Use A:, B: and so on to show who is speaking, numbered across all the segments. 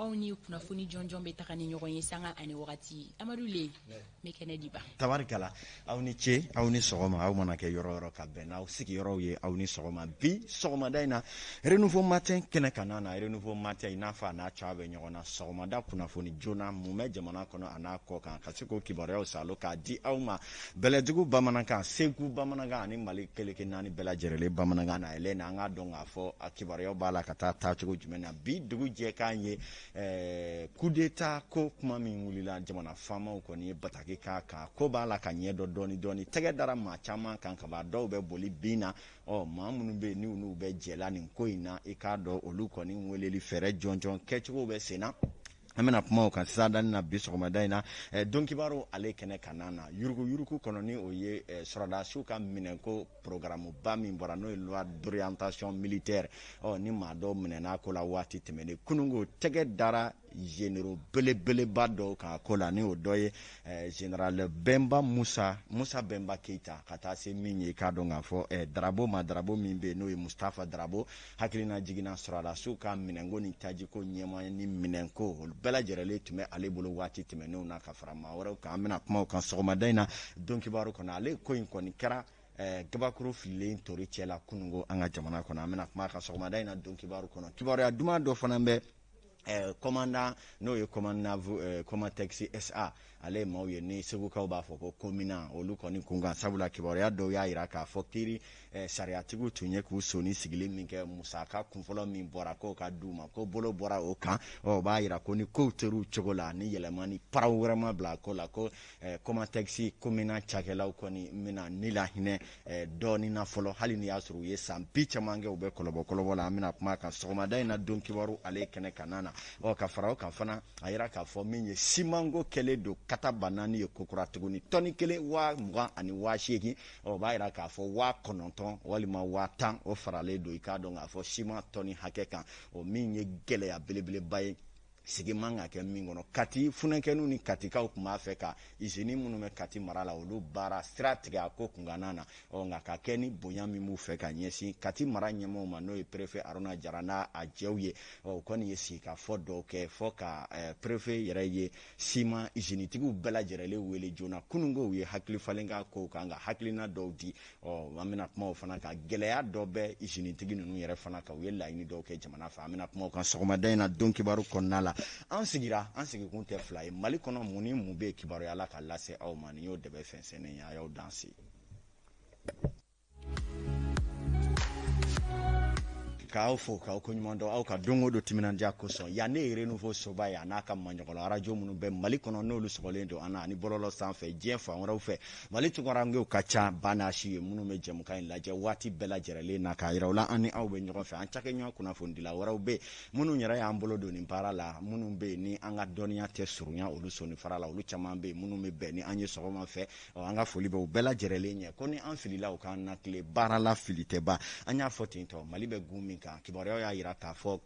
A: aw ni kunnafoni jɔnjɔn bɛ taga ni ɲɔgɔn ye sanga ani wagati amadu le bɛ kɛnɛ diba tabarikala aw
B: ni ce aw ni sɔgɔma aw mana kɛ yɔrɔ yɔrɔ ka bɛn n'aw sigiyɔrɔw ye aw ni sɔgɔma bi sɔgɔmada in na renouveau matin kɛnɛ kan na na renouveau matin i n'a fɔ a n'a cogoya bɛ ɲɔgɔn na sɔgɔmada kunnafoni joona mun bɛ jamana kɔnɔ a n'a kɔkan ka se k'o kibaruyaw salo k'a di aw ma bɛlɛdugu bamanankan segu bamanankan ani mali keleke naani bɛɛ lajɛrɛlen bamanankan na ɛlɛ na an k'a dɔn k'a fɔ a kibaruyaw b'a la ka taa taacogo jumɛn na bi dugujɛ kan ye eh, kudeta ko kuma min wulila jamana faamaw kɔni ye bataki k'a kan ko b'a la ka ɲɛ dɔn dɔɔni dɔɔni tɛgɛ dara maa caman kan kaban dɔw bɛ boli bin na ɔ maa minnu bɛ yen ni olu bɛ jɛla nin ko in na i k'a dɔn olu kɔni weleli fɛɛrɛ jɔnjɔn kɛcogo bɛ sen na an bɛna kuma o kan sisan dani na bi sɔgɔmada in na eh, don kibaru ale kɛnɛ kan na na yurugu yurugu kɔnɔ ni o ye eh, sɔrɔdasiw ka minɛnko programuba min bɔra n'o ye loi d'orientation militaire ɔ ni maa dɔw minɛna ko la waati tɛmɛnen kununko tɛgɛ dara généraux belebeleba dɔw kan ko la ni o dɔ ye eh, général bɛnba musa bɛnba keyita ka taa se min ye k'a dɔn k'a fɔ eh, darabo ma darabo min bɛ yen n'o ye mustafa darabo hakilina jigin na sɔrɔdasiw ka minɛnko ni tajiko ɲɛmaa ni minɛnko olu bɛɛ lajɛrɛlen tun bɛ ale bolo waati tɛmɛnenw na ka fara maa wɛrɛw kan an bɛna kuma o kan sɔgɔmada in na don kibaru kɔnɔ ale ko in kɔni kɛra eh, gabakuru fililen tori cɛ la kununko an ka jamana kɔnɔ an bɛna kuma a kan sɔgɔmada in na don kibaru kɔnɔ kibaruya duman dɔ fana bɛ Eh, kɔmandan n'o ye kɔmandan eh, kɔmatɛkisi sa ale maaw ye ni segukaw b'a fɔ ko komina olu kɔni kunkan sabula kibaruya dɔw y'a jira k'a fɔ kiri eh, sariyatigiw tun ye k'u soni sigili min kɛ musaka kunfɔlɔ min bɔra k'o ka di u ma ko bolo bɔra o kan o b'a jira ko ni kow tor'u cogo la ni yɛlɛma ni paraw wɛrɛ ma bila ko la ko kɔmatɛkisi komina cakɛlaw kɔni bɛna ni lahinɛ Eh, dɔɔni na fɔlɔ hali ni y'a sɔrɔ u ye san bi caman kɛ u bɛ kɔlɔbɔ kɔlɔbɔ la an bɛna kuma kan sɔgɔmada in na don kibaru ale kɛnɛ kan na ɔ ka fara o kan fana a yira k'a fɔ min ye simanko kɛlen don katabaanani ye kokura tuguni tɔni kelen waa mugan ani waa seegin ɔ o b'a yira k'a fɔ waa kɔnɔntɔn walima waa tan o faralen don i k'a dɔn k'a fɔ siman tɔni hakɛ kan o min ye gɛlɛya belebeleba ye sigi man ka kɛ min kɔnɔ kati funankɛninw ni katikaw tun b'a fɛ ka izini minnu bɛ kati mara la olu baara sira tigɛ a ko kunkanna na ɔ nka ka kɛ ni bonya min b'u fɛ ka ɲɛsin kati mara ɲɛmaaw ma n'o ye perefe aruna jara n'a adjointw ye ɔ u kɔni ye sigikafɔ dɔw kɛ fɔ ka eh, perefe yɛrɛ ye siman izinitigiw bɛɛ lajɛrɛlen wele joona kunungo u ye hakili falen kɛ kow kan ka hakilina dɔw di Ɔ an bɛna kuma o fana kan gɛlɛya dɔ bɛ izinitigi ninnu yɛrɛ fana kan u ye laɲini dɔw kɛ jamana fɛ an bɛna kuma o kan sɔgɔmada in na don kibaru kɔnɔna la an sigira an sigikun tɛ fila ye mali kɔnɔ mun ni mun bɛ kibaruya la ka lase aw ma nin y'o dɛbɛn fɛnsɛnnen ye a y'aw danse k'aw fo k'aw ko ɲuman dɔn aw ka don o don timinandiya kosɔn yan ne ye renouveau soba ye a n'a ka maɲɔgɔn arajo minnu bɛ mali kɔnɔ n'olu sɔgɔlen don an na ani bɔlɔlɔ sanfɛ diɲɛ fan wɛrɛw fɛ mali tunkarankew ka ca ba n'a si ye minnu bɛ jɛmukan in lajɛ waati bɛɛ lajɛrɛlen na k'a yira u la an ni aw bɛ ɲɔgɔn fɛ an cakɛɲɔgɔn kunnafonidila wɛrɛw bɛ minnu yɛrɛ y'an bolo don nin baara la minnu bɛ yen ni an ka dɔnniya tɛ surunya olu sɔninfara la olu caman bɛ yen minnu bɛ bɛn ni an ye sɔgɔma fɛ an ka foli bɛ u bɛɛ lajɛrɛlen ye ko ni an filila u k'an latilen baara la fili tɛ ban an y'a fɔ ten tɔ mali bɛ gun min kan kibaruyaw y'a yira k'a fɔ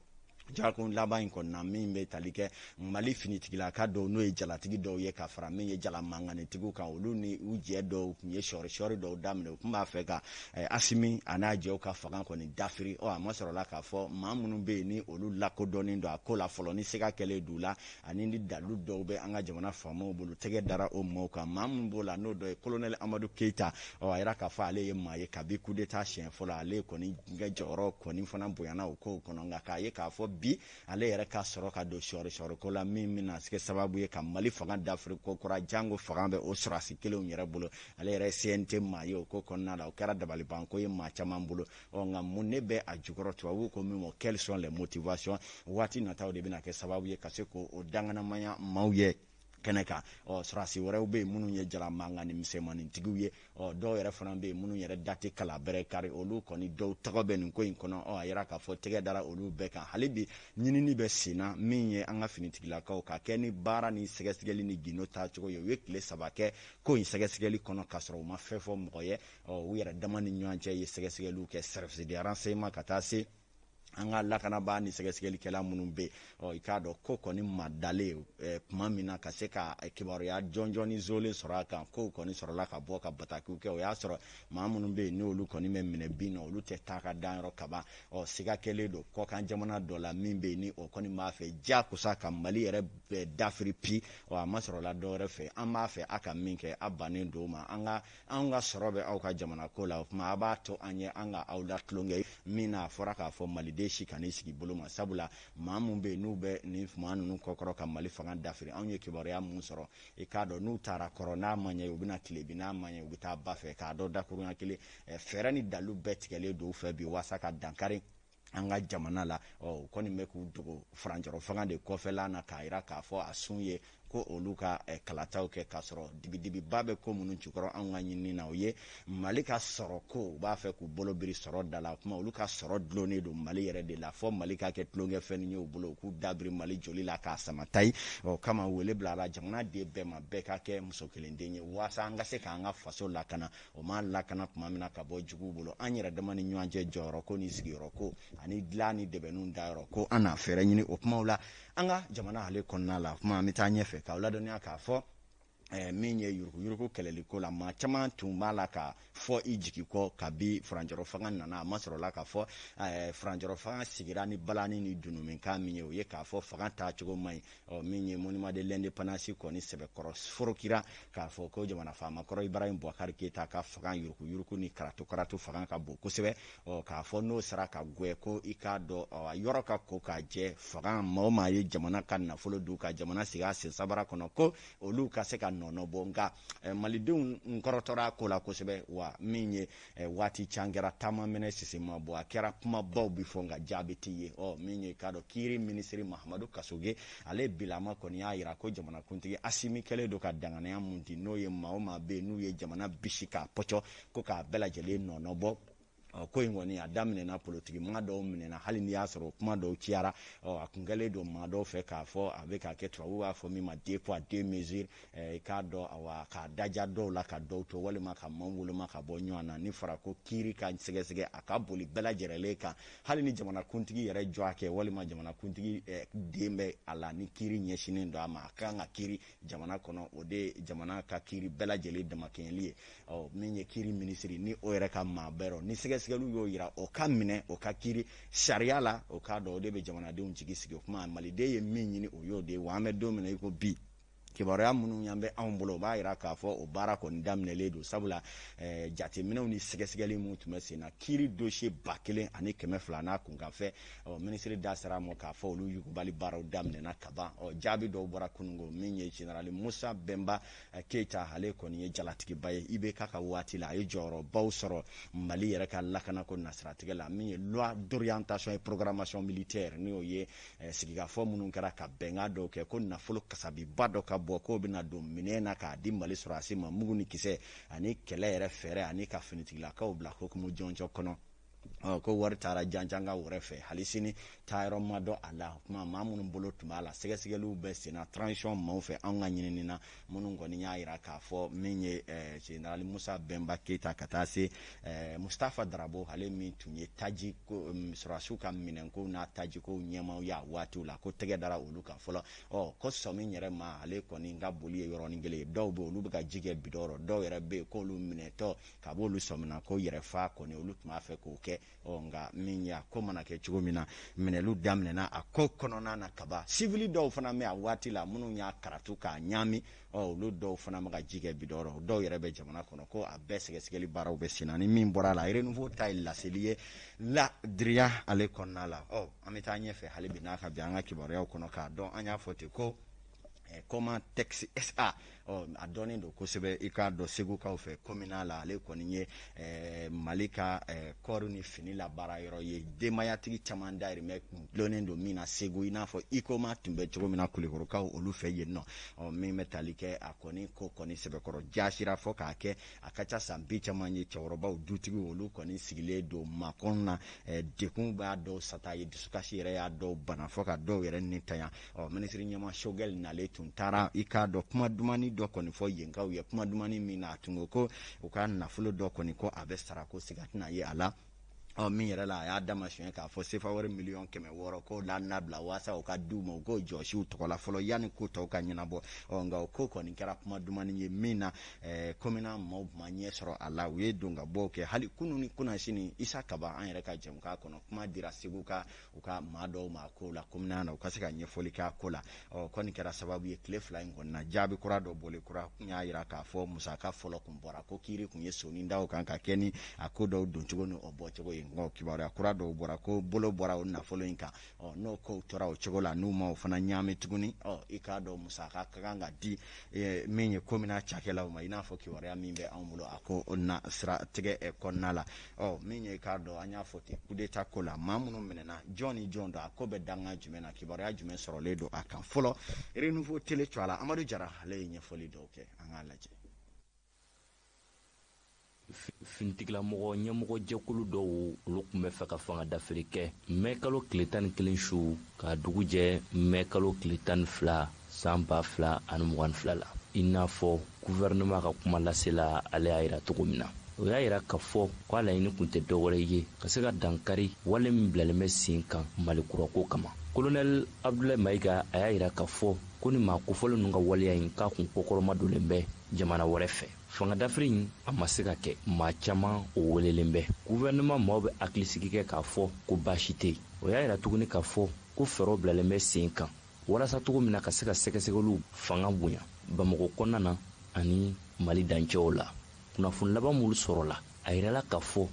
B: jakun laban in kɔnɔna min bɛ tali kɛ mali finitigilaka dɔw n'o ye jalatigi dɔw ye ka fara min ye jala mankanitigiw kan olu ni u jɛ dɔw tun ye sɔɔrisɔɔri dɔw daminɛ u tun b'a fɛ ka eh, asimi a n'a jɛw ka fanga kɔni dafiri ɔ a masɔrɔla k'a fɔ maa minnu bɛ yen ni olu lakodɔnnen don a ko la fɔlɔ ni siga kɛlen d'u la ani ni dalu dɔw bɛ an ka jamana faamaw bolo tɛgɛ dara o maaw kan maa minnu b'o la n'o dɔ ye kolonɛli amadu keyita ɔ a yira k'a fɔ ale ye maa ye kabi kudeta siɲɛ fɔlɔ ale kɔni ka jɔyɔrɔ kɔni fana bonyana o kow kɔnɔ nka k'a ye k'a fɔ bi ale yɛrɛ ka sɔrɔ ka don sɔɔrisɔɔriko la min bɛna kɛ sababu ye ka mali fanga dafiri ko kura jango fanga bɛ o sɔrɔdasi kelenw yɛrɛ bolo ale yɛrɛ ye cnt maa ye o ko kɔnɔna la o kɛra dabalibanko ye maa caman bolo ɔ nka mun ne bɛ a jukɔrɔ tubabuw ko min ma quelles sont les motivations waati nataw de bɛna kɛ sababu ye ka se k'o dankɛnɛmaya maaw ye kɛnɛ kan ɔ sɔrɔdasi wɛrɛw bɛ yen minnu ye jala mankan ni misɛnmanintigiw ye ɔ dɔw yɛrɛ fana bɛ yen minnu yɛrɛ da tɛ kala bɛrɛ kari olu kɔni dɔw tɔgɔ bɛ nin ko in kɔnɔ ɔ a yira k'a fɔ tɛgɛ dara olu bɛɛ kan hali bi ɲinini bɛ sen na min ye an ka finitigilakaw ka kɛ ni baara ni sɛgɛsɛgɛli ni gindo taacogo ye u ye tile saba kɛ ko in sɛgɛsɛgɛli kɔnɔ k'a sɔrɔ u ma fɛn fɔ mɔgɔ ye u yɛrɛ dama ni ɲɔgɔn cɛ ye sɛgɛsɛgɛliw kɛ service de renseignement ka taa se an ka lakanabaa ni sɛgɛsɛgɛlikɛla minnu bɛ yen i k'a dɔn ko kɔni madalen tuma min na ka se ka kibaruya jɔnjɔn ni zolen sɔrɔ a kan kow kɔni sɔrɔla ka bɔ ka batakiw kɛ o y'a sɔrɔ maa minnu bɛ yen n'olu kɔni bɛ minɛ bin na olu tɛ taa ka danyɔrɔ kaban ɔ siga kɛlen don kɔkan jamana dɔ la min bɛ yen ni o kɔni b'a fɛ diyakosa ka mali yɛrɛ dafiri bi ɔ a ma sɔrɔla dɔwɛrɛ fɛ an b'a fɛ a ka min kɛ a bannen don ma an ka an ka sɔrɔ bɛ aw ka jamana ko la o tuma a b'a to an ye an ka aw latulonkɛ min na a fɔra k'a fɔ maliden si kan'i sigi bolo ma sabula maa minnu bɛ yen n'u bɛ nin maa ninnu kɔkɔrɔ ka mali fanga dafiri anw ye kibaruya minnu sɔrɔ i k'a dɔn n'u taara kɔrɔ n'a ma ɲɛ u bɛ na tilebin n'a ma ɲɛ u bɛ taa ba fɛ k'a dɔn dakurunya kelen fɛɛrɛ ni dalu bɛɛ tigɛlen don u fɛ bi waasa ka dankari an ka jamana la u kɔni bɛ k'u dogo furancɛrɔ fanga de kɔfɛla na k'a jira k'a fɔ a sun ye ko olu ka eh, kalataw kɛ k'a sɔrɔ dibidibiba bɛ ko minnu jukɔrɔ anw ka ɲinini na o ye mali ka sɔrɔ ko u b'a fɛ k'u bolo biri sɔrɔ da la kuma olu ka sɔrɔ dulonnen don mali yɛrɛ de la fɔ mali ka kɛ tulonkɛfɛn ye u bolo u k'u dabiri mali joli la k'a samata ye o kama wele bilala jamanaden bɛɛ ma bɛɛ ka kɛ muso kelen den ye waasa an ka se k'an ka faso lakana o ma lakana tuma min na ka bɔ juguw bolo an yɛrɛ dama ni ɲɔgɔn cɛ jɔyɔrɔ ko ni sigiyɔrɔ ko ani dilan ni dɛbɛnw dayɔrɔ ko an na fɛɛrɛ ɲini o kumaw la an ka jamana ale kɔnɔna la kuma an bɛ taa ɲɛfɛ k'aw ladɔnniya k'a fɔ Eh, min ye yuruguyurugu kɛlɛliko la maa caman tun b'a la ka fɔ i jigi kɔ kabi furancɛrɔ fanga nana a ma sɔrɔla k'a fɔ eh, furancɛrɔ fanga sigira ni balani ni dunun mankan min ye o ye k'a fɔ fanga taacogo man ɲi ɔ min ye monument de l'indépendance kɔni sɛbɛkɔrɔ forokira k'a fɔ ko jamana faama kɔrɔ ibrahim bubakari keyita ka fanga yurukuyuruku ni karatu-karatu fanga ka bon kosɛbɛ ɔ k'a fɔ n'o sera ka gwɛn ko i k'a dɔn o yɔrɔ ka ko k'a jɛ fanga maa o maa ye jamana ka nafolo dun ka jamana sigi a sen sabara kɔnɔ ko olu ka se ka nɔnɔbɔ nka Eh, malidenw kɔrɔtɔra a ko la kosɛbɛ wa min ye eh, waati jan kɛra ta ma mɛnɛ sisi ma bɔ a kɛra kumabaw bi fɔ nka jaabi tɛ ye ɔ min ye k'a dɔn kiiri minisiri mahamadu kasoge ale bilama kɔni y'a yira ko jamanakuntigi asimi kɛlen don ka danganaya min di n'o ye maa o maa bɛ yen n'u ye jamana bisi k'a pɔcɔ ko k'a bɛɛ lajɛlen nɔnɔbɔ ɔ ko in kɔni a daminɛna politiki maa dɔw minɛna hali n'i y'a sɔrɔ kuma dɔw cayara ɔ a kun kɛlen don maa dɔw fɛ k'a fɔ a bɛ k'a kɛ tubabu b'a fɔ min ma deux poids deux mesures i k'a dɔn awa k'a daja dɔw la ka dɔw to walima ka maaw woloma ka bɔ ɲɔgɔn na n'a fɔra ko kiiri ka sɛgɛsɛgɛ a ka boli bɛɛ lajɛrɛlen kan hali ni jamanakuntigi yɛrɛ jɔ a kɛ walima jamanakuntigi den bɛ a la ni kiiri ɲɛsinnen don a ma a ka kan ka kiiri jamana kɔnɔ o de ye jamana ka kiiri bɛɛ lajɛlen damakɛɲɛli ye ɔ min ye kiiri minisiri ni o yɛrɛ ka maa bɛ a rɔ ni sɛgɛsɛgɛliw y'o yira o ka minɛ o ka kiiri sariya la i k'a dɔn o de bɛ jamanadenw jigi sigi o kuma maliden ye min ɲini o y'o de ye wa an bɛ don min na i ko bi kibaruya minnu y'an bɛ anw bolo o b'a yira k'a fɔ o baara kɔni daminɛlen don sabula eh, jateminɛw ni sɛgɛsɛgɛli minnu tun bɛ sen na kiiri dosiye ba kelen ani kɛmɛ fila n'a kunkanfɛn ɔ minisiri da sera a ma k'a fɔ olu yugubali baaraw daminɛna kaban ɔ jaabi dɔw bɔra kunungo min ye jenerali musa bɛnba eh, keyita ale kɔni ye jalatigiba ye IBK ka waati la a ye jɔyɔrɔbaw sɔrɔ mali yɛrɛ ka lakanako nasiratigɛ la min ye loi d'orientation et programmation militaire n'o ye eh, sigikafɔ minnu kɛra ka bɛnkan dɔw kɛ ko nafolo kasabiba dɔ ka bɔ k'o bɛna don minɛn na k'a di mali sɔrɔdasi ma mugu ni kisɛ ani kɛlɛ yɛrɛ fɛɛrɛ ani ka finitigilakaw bila hukumu jɔnjɔn kɔnɔ ko wari taara janjanga wɛrɛ fɛ hali sini taayɔrɔ ma dɔn a la kuma maa minnu bolo tun b'a la sɛgɛsɛgɛliw bɛ senna transition maaw fɛ anw ka ɲinini na minnu kɔni y'a jira k'a fɔ min ye general musa bɛnba keyita ka taa se mustafa darabo ale min tun ye taji sɔrɔdasiw ka minɛnkow n'a tajikow ɲɛmaaw ye a waatiw la ko tɛgɛ dara olu kan fɔlɔ ɔ ko sɔmi yɛrɛ ma ale kɔni ka boli ye yɔrɔnin kelen ye dɔw bɛ olu bɛ ka ji kɛ bidɔn dɔw yɛrɛ bɛ yen k'olu minɛtɔ kab'olu sɔmina ko yɛrɛfa kɔni olu tun b'a fɛ k'o kɛ ɔ nka min y'a ko mana kɛ cogo min na minɛliw daminɛna a ko kɔnɔna na kaban sivili dɔw fana bɛ a waati la minnu y'a karatu k'a ɲaami ɔ olu dɔw fana bɛ ka ji kɛ bidɔn dɔw yɛrɛ bɛ jamana kɔnɔ ko a bɛɛ sɛgɛsɛgɛli baaraw bɛ senna ni min bɔra a la renouveau ta ye laseli ye ladiriya ale kɔnɔna la ɔ an bɛ taa ɲɛfɛ hali bi n'a ka bi an ka kibaruyaw kɔnɔ k'a dɔn an y'a fɔ ten ko Eh, Comatex SA ɔ a dɔnnen don kosɛbɛ i k'a dɔn segukaw fɛ kɔmina la ale kɔni ye eh, mali ka eh, kɔɔri ni fini la baara yɔrɔ ye denbayatigi caman dayirimɛ dɔnnen don min na segu i n'a fɔ ikoma tun bɛ cogo min na kulikorokaw olu fɛ yen nɔ ɔ min bɛ tali kɛ a kɔni ko kɔni sɛbɛkɔrɔ jasira fɔ k'a kɛ a ka ca san bi caman ye cɛkɔrɔbaw dutigiw olu kɔni sigilen don makɔnɔ na degun b'a dɔw sata ye dusukasi yɛrɛ y'a dɔw bana fɔ ka dɔw yɛrɛ nitanya ɔ minisiri ɲɛmaa sogɛl nalen tun taara i k'a dɔn kuma dumani dɔ kɔni fɔ yenkaw ye kuma dumani min na a tun ko ko u ka nafolo dɔ kɔni ko a bɛ sara ko siga tɛna ye a la ɔ min yɛrɛ la a y'a damasiyɛn k'a fɔ sefa wari miliyɔn kɛmɛ wɔɔrɔ ko la nabila waasa o ka di u ma u k'o jɔsiw tɔgɔ la fɔlɔ yanni ko tɔw ka ɲɛnabɔ ɔ nka o ko kɔni kɛra kuma dumani ye min na eh, komina maaw ma ɲɛ sɔrɔ a la u ye donkabɔw kɛ hali kunu ni kunasini isa kaba an yɛrɛ ka jɛmukan kɔnɔ kuma dira segu ka u ka maa dɔw ma ko la komina na u ka se ka ɲɛfɔli k'a ko la ɔ kɔni kɛra sababu ye tile fila in kɔnɔna na jaabi kura dɔ bɔlen kura tun y'a jira k'a fɔ musaka fɔlɔ tun bɔra ko kiri tun ye sonin da o kan ka kɛ ni a ko dɔw doncogo ni o bɔcogo ye nka kibaruya kura dɔw bɔra ko bolo bɔra o nafolo in kan ɔ n'o ko tora o cogo la n'u ma o fana ɲaami tuguni ɔ i k'a dɔn musaka ka kan ka di min ye komina cakɛlaw ma i n'a fɔ kibaruya min bɛ anw bolo a ko o na sira tigɛ kɔnɔna la ɔ min ye k'a dɔn an y'a fɔ ten kudeta ko la maa minnu minɛna jɔn ni jɔn don a ko bɛ danga jumɛn na kibaruya jumɛn sɔrɔlen don a kan fɔlɔ renouveau tele cɔ a la amadu jara ale ye ɲɛfɔli dɔw kɛ an k'a lajɛ
C: finitigilamɔgɔ ɲɛmɔgɔ jɛkulu dɔw olu tun b'a fɛ ka fanga dafiri kɛ mɛkalo tile tan ni kelen su ka dugu jɛ mɛkalo tile tan ni fila san ba fila ani mugan ni fila la i n'a fɔ guvɛrɛnɛma ka kuma lasela ale y'a yira cogo min na o y'a yira k'a fɔ ko a laɲini kun tɛ dɔwɛrɛ ye ka se ka dankari wale min bilalen bɛ sen kan mali kurako kama kolonɛl abdulayi mayiga a y'a yira k'a fɔ ko ni maa kofɔlen ninnu ka waleya in k'a kun kɔkɔrɔma donnen bɛ jamana wɛrɛ fɛ fanga dafiri in a ma se ka kɛ maa caman o welelen bɛ guvɛrɛnɛma maaw bɛ hakilisigi kɛ k'a fɔ ko baasi tɛ yen o y'a yira tuguni k'a fɔ ko fɛɛrɛw bilalen bɛ sen kan walasa cogo min na ka se ka sɛgɛsɛgɛliw fanga bonya bamakɔ kɔnɔna na ani mali dancɛw la kunnafoni laban minnu sɔrɔla a yirala k'a fɔ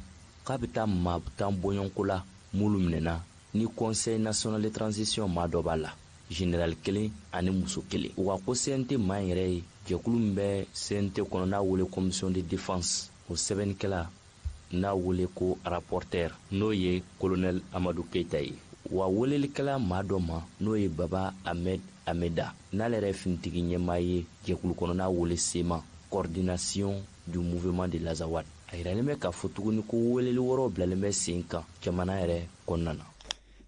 C: k'a bɛ taa maa tan bɔɲɔgɔnko la minnu minɛna ni conseil national de transition maa dɔ b'a la general kelen ani muso kelen u ka ko cnt maa yɛrɛ ye jɛkulu min bɛ cnt kɔnɔ n'a wele commission de défense o sɛbɛnnikɛla n'a wele ko rapporteur n'o ye kolonɛl amadu keyita ye wa weleli kɛla maa dɔ ma n'o ye baba ahmed ameda n'ale yɛrɛ finitigi ɲɛmaa ye jɛkulu kɔnɔ n'a wele cma coordination du mouvement de l'azawad a yiralen bɛ k'a fɔ tuguni ko weleli wɛrɛw bilalen bɛ sen kan jamana yɛrɛ kɔnɔna na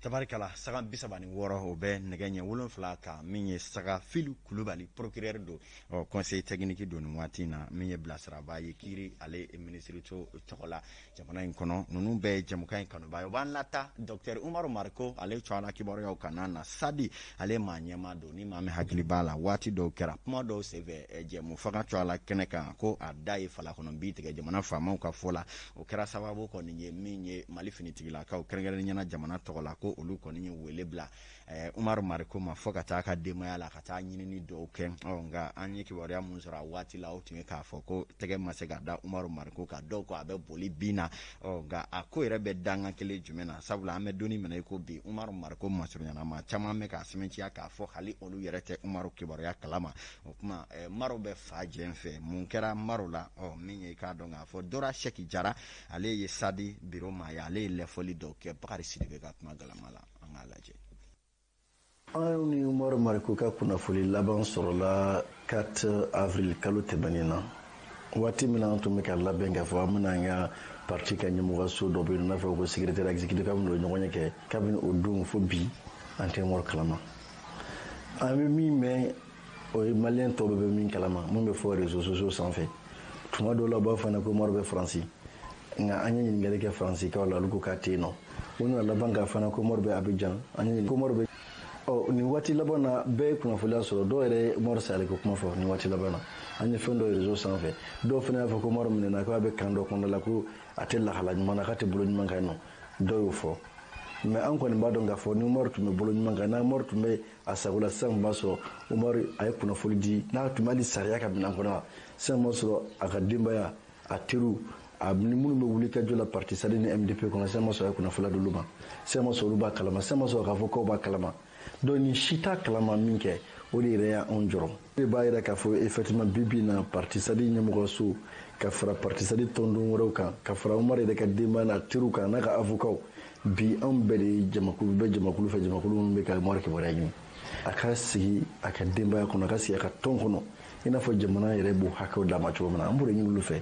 C: tabarikala
B: sanga bi saba ni wɔɔrɔ o bɛ nɛgɛ ɲɛ wolonwula kan min ye saga fili kulubali procureur don ɔ conseiller technique don nin waati in na min ye bilasiraba ye kiiri ale minisiriso tɔgɔ la jamana in kɔnɔ ninnu bɛɛ jɛmukan in kanubaw o b'an lataa dɔgɔtɔrɔ umaru mariko ale cogoya la kibaruyaw kan na sadi ale maa ɲɛmaa don ni maa min hakili b'a la waati dɔw kɛra kuma dɔw senfɛ jɛmu fanga cogoya la kɛnɛ kan ko a da ye fala kɔnɔ bi tigɛ jamana faamaw ka fɔ la o kɛra sababu kɔni ye min ye mali finitigilakaw kɛrɛnkɛrɛnnenya la jamana tɔgɔ la ko olu kɔni ye wele bila eh, umaru mariko ma fɔ ka taa a ka denbaya la ka taa ɲinini dɔw kɛ nka an ye kibaruya minnu sɔrɔ a waati la o tun ye k'a fɔ ko tɛgɛ ma se ka da umaru mariko kan dɔw ko a bɛ boli bin na nka a ko yɛrɛ bɛ danga kelen jumɛn na sabula an bɛ don min na i ko bi umaru mariko masurunnya na maa caman bɛ k'a sɛmɛntiya k'a fɔ hali olu yɛrɛ tɛ umaru kibaruya kalama o tuma umaru bɛ fan jɛn fɛ mun kɛra umaru la min ye k'a dɔn k'a fɔ dora sɛki jara ale ye sadi biro maa ye ale ye ɲɛfɔli dɔw kɛ bakari sidibe ka kuma galama la an k'a lajɛ
D: anw ni umaru mariko ka kunnafoni laban sɔrɔla 4 avril kalo tɛmɛnen na waati min na an tun bɛ ka labɛn k'a fɔ an bɛna an ka parti ka ɲɛmɔgɔso dɔ bɛ yen n'a fɔ ko secrétaire exécutif k'an bɛna o ɲɔgɔnye kɛ kabini o don fo bi an tɛ umaru kalama an bɛ min mɛn o ye maliyɛn tɔw bɛ min kalama min bɛ fɔ réseaux sociaux sanfɛ tuma dɔw la u b'a fɔ an ye ko umaru bɛ faransi nka an ye ɲininkali kɛ faransikaw la olu ko k'a tɛ yen nɔ u nana laban k'a fɔ an ye ko umaru bɛ abijan an ye ko umaru bɛ ɔ nin waati laban na bɛɛ ye kunnafoniya sɔrɔ dɔw yɛrɛ ye umaru salen ko kuma fɔ nin waati laban na an ye fɛn dɔ réseau sanfɛ dɔw fana y'a fɔ ko umaru minɛna k'a bɛ kan dɔ kɔnɔna la ko a tɛ lahala ɲuman na k'a tɛ bolo ɲuman kan nɔ dɔ y'o fɔ mais an kɔni b'a dɔn k'a fɔ ni umaru tun bɛ bolo ɲuman kan ni umaru tun bɛ a sago la sisan b'a sɔrɔ umaru a ye kunnafoli di n'a tun bɛ hali sariya ka minan kɔnɔ sisan b'a sɔrɔ a ka denbaya a teriw a ni minnu bɛ wulikajɔ la parti sadi ni mdp kɔnɔ sisan b'a sɔrɔ a ye kunnafoli d'olu ma sisan b'a sɔrɔ olu b'a kalama sisan b'a sɔrɔ k'a fɔ k'aw b'a kalama donc nin si t'a kalama min kɛ o de yɛrɛ y'anw jɔrɔ o de b'a yira k'a fɔ effectivement bibi na parti sadi ɲɛmɔgɔso ka fara parti sadi tɔnden wɛrɛw kan ka fara umar yɛrɛ ka denbaya n'a teriw kan n'a ka avokaw bi anw bɛɛ de ye jamakulu bɛ jamakulu fɛ jamakulu minnu bɛ ka umar kibaruya ɲini a ka sigi a ka denbaya kɔnɔ a ka sigi a ka tɔn kɔnɔ i n'a fɔ jamana yɛrɛ b'o hakɛw d'a ma cogo min na an b'o de ɲini olu fɛ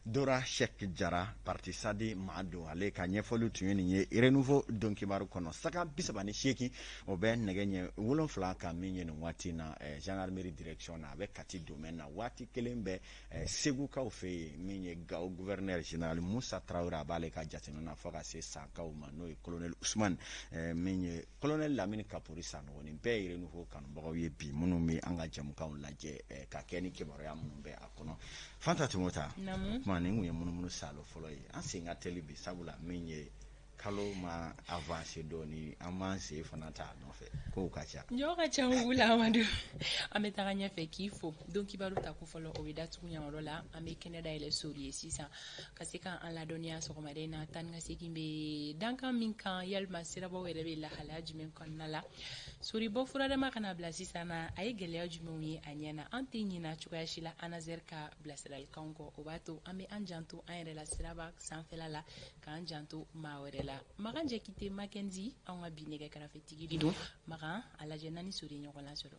B: Dora sɛki jara parti sadi maa don ale ka ɲɛfɔli tun ye nin ye renouveau don kibaru kɔnɔ sanga bisaba ni seegin o bɛ nɛgɛ ɲɛ wolon wolonwula kan min ye nin waati in na gendarmerie direction na a bɛ kati domaine na waati kelen bɛ segukaw fɛ yen min ye gawo gouverneur général musa tarawele a b'ale ka jate na fo ka se sankaw ma n'o ye kolonɛli usumani min ye kolonɛli lamini kapori sanɔgɔ nin bɛɛ ye renouveau kanubagaw ye bi minnu bɛ an ka jamukan lajɛ ka kɛ ni kibaruya minnu bɛ a kɔnɔ fanta tun ta tuma nin tun ye munumunu salo fɔlɔ ye an sen ka teli bi sabula min ye kalo ma avancer dɔɔnin an b'an sen fana ta nɔfɛ kow ka ca ɲɔgɔn ka ca wula
A: an bɛ taga ɲɛfɛ k'i fo don kibaru ta ko fɔlɔ o bɛ datugu nin yɔrɔ la an bɛ kɛnɛ dayɛlɛ sori ye sisan ka se k'an ladɔnniya sɔgɔmada in na taa ka segin bɛ dankan min kan walima sirabaw yɛrɛ bɛ lahalaya jumɛn kɔnɔna la sori bɔ furadama kana bila sisan na a ye gɛlɛya jumɛnw ye a ɲɛ na an tɛ ɲina cogoya si la anazɛr ka bilasiralikan kɔ o b'a to an bɛ an janto an yɛrɛ la siraba sanfɛla la k'an janto maa wɛrɛ la makan jakite makenzi an ka bi nɛgɛ karafetigi de don makan a lajɛ n'an ni sori ɲɔgɔn lasɔrɔ